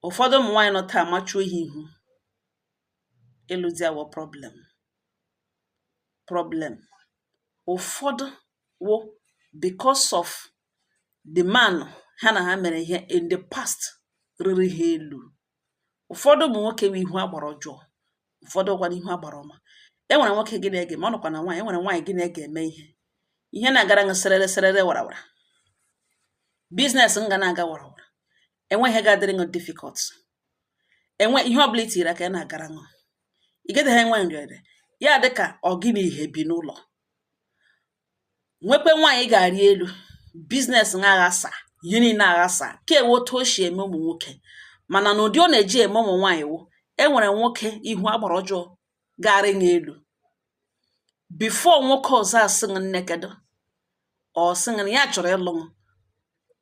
ụ̀fọdụ ụmụ̀ nwaanyị nọ taa amachuo ha ihu ịlụ di awụọ problem problem ụ̀fọdụ wụ because of the man ha nà ha mèrè ihe in the past rịrị ha elu̇ ụ̀fọdụ ụmụ̀ nwokė wụ ihu agbara ọjọọ ụfọdụ wụkwanụ ihu agbara ọma e nwere nwoke gị na ya ga ma ọ nọkwa na nwaanyị e nwere nwaanyị gị na ya ga-eme ihe ihe na-agara ṅụ serere serere warawara business ṅụ ana-aga warawara enweghị ihe ga-adịrị ṅụ difficult enwe ihe ọbụla i tiri aka ya na-agara ṅụ ị gaghị enwe nrịanrịa ya dị ka ọ gị na ihe bi n'ụlọ nwekwe nwaanyị ị ga-arị elu business ṅụ aghasa ihe niile aghasa nke a wụ otu o si eme ụmụ nwoke mana n'ụdị ọ na-eji eme ụmụ nwaanyị wụ e nwere nwoke ihu agbara ọjọọ ga-arị ṅụ elu before nwoke ọzọ asị ṅụ nne kedu or sị ṅụ na ya chọrọ ịlụ ṅụ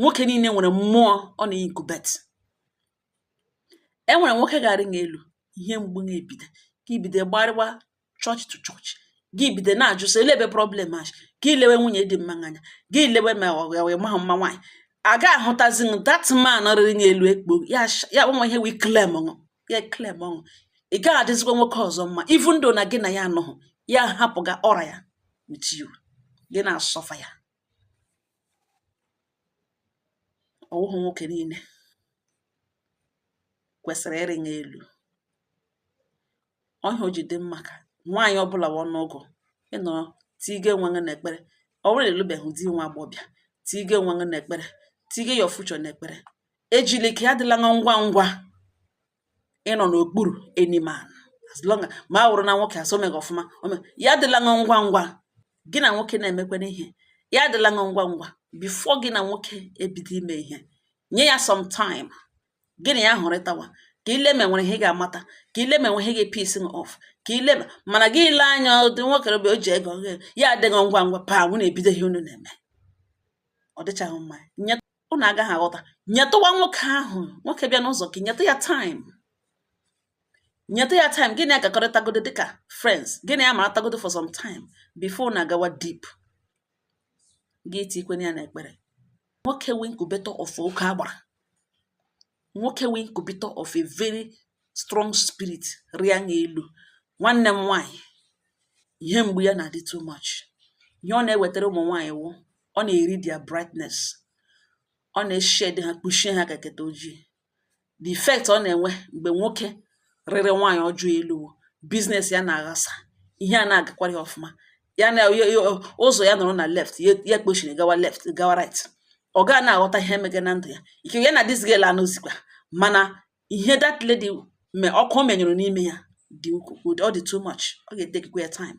nwoke niile nwere mmụọ ọ na-incubate e nwere nwoke ga-arị ṅụ elu ihe mgbu ṅụ ebido gị ebido gbarịwa church to church gị ebido na-ajụ sị elee ebe problem a gị lewe nwunye dị mma anya gị lewe ma ọ gawe ma mma nwaanyị a ga ahụtazi na that man rịrị ṅụ elu ekpo ya nwa ihe wee claimuo ṅụ ya claimuo ṅụ ị gaghị adịzikwa nwoke ọzọ mma even though na gị na ya anọghị ya ahapụga aura ya with you gị na-asuffer ya ọ wụghị nwoke niile kwesịrị ịrị ṅụ elu ọ ihe o ji dị mma ka nwaanyị ọbụla wụ ọnụọgụ ịnọ tige onwe gị n'ekpere ọ bụrụ na ị lụbeghị di nwa agbọbịa tige onwe gị n'ekpere tige your future n'ekpere ejili ike ya adịla ngwa ngwa ịnọ n'okpuru any man as long as ma a wụrụ na nwoke asị o meghị ọfụma o me- ya adịla ṅụ ngwa ngwa gị na nwoke na-emekọrị ihe ya adịla ṅụ ngwa ngwa before gị na nwoke ebido ime ihe nye ya some time gị na ya hụrịtawa ka i lee ma e nwere ihe ị ga-amata ka i lee ma e nwere ihe ga-episs ṅụ off ka i lee ma mana gị elee anya ụdị nwoke bụ o ji ego gị ya adị ṅụ ngwa ngwa paa unu ebido ihe unu na-eme ọ dịchaghị mma nye unu agaghị aghọta nyetụwa nwoke ahụ nwoke bịa n'ụzọ gị nyetụ ya time nyetụ ya time gị na ya gakọrịtagodo dịka friends gị na ya maratagodo for some time before unu agawa deep gị etikwenye ya n'ekpere nwoke wụ incubator of oke agbara nwoke wụ incubator of a very strong spirit rịa ṅụ elu nwanne m nwaanyị ihe mgbu ya na-adị too much ihe ọ na-ewetara ụmụ nwaanyị wụ ọ na-eri their brightness ọ na-eshade ha kpuchie ha ka curtain ojii the effect ọ na-enwe mgbe nwoke rịrị nwaanyị ọjọọ elu wụ business ya na-aghasa ihe anaghị agakwara ya ọfụma ya na ụzọ ya nọrọ na left ya kpochiri gawa left gawa right ọ gaa na-aghọta ihe emege na ndụ ya ike ya na this girl anọzikwa mana ihe that lady me ọkụ menyụrụ n'ime ya dị ukwuu ọ dị too much ọ ga-etakekwa ya time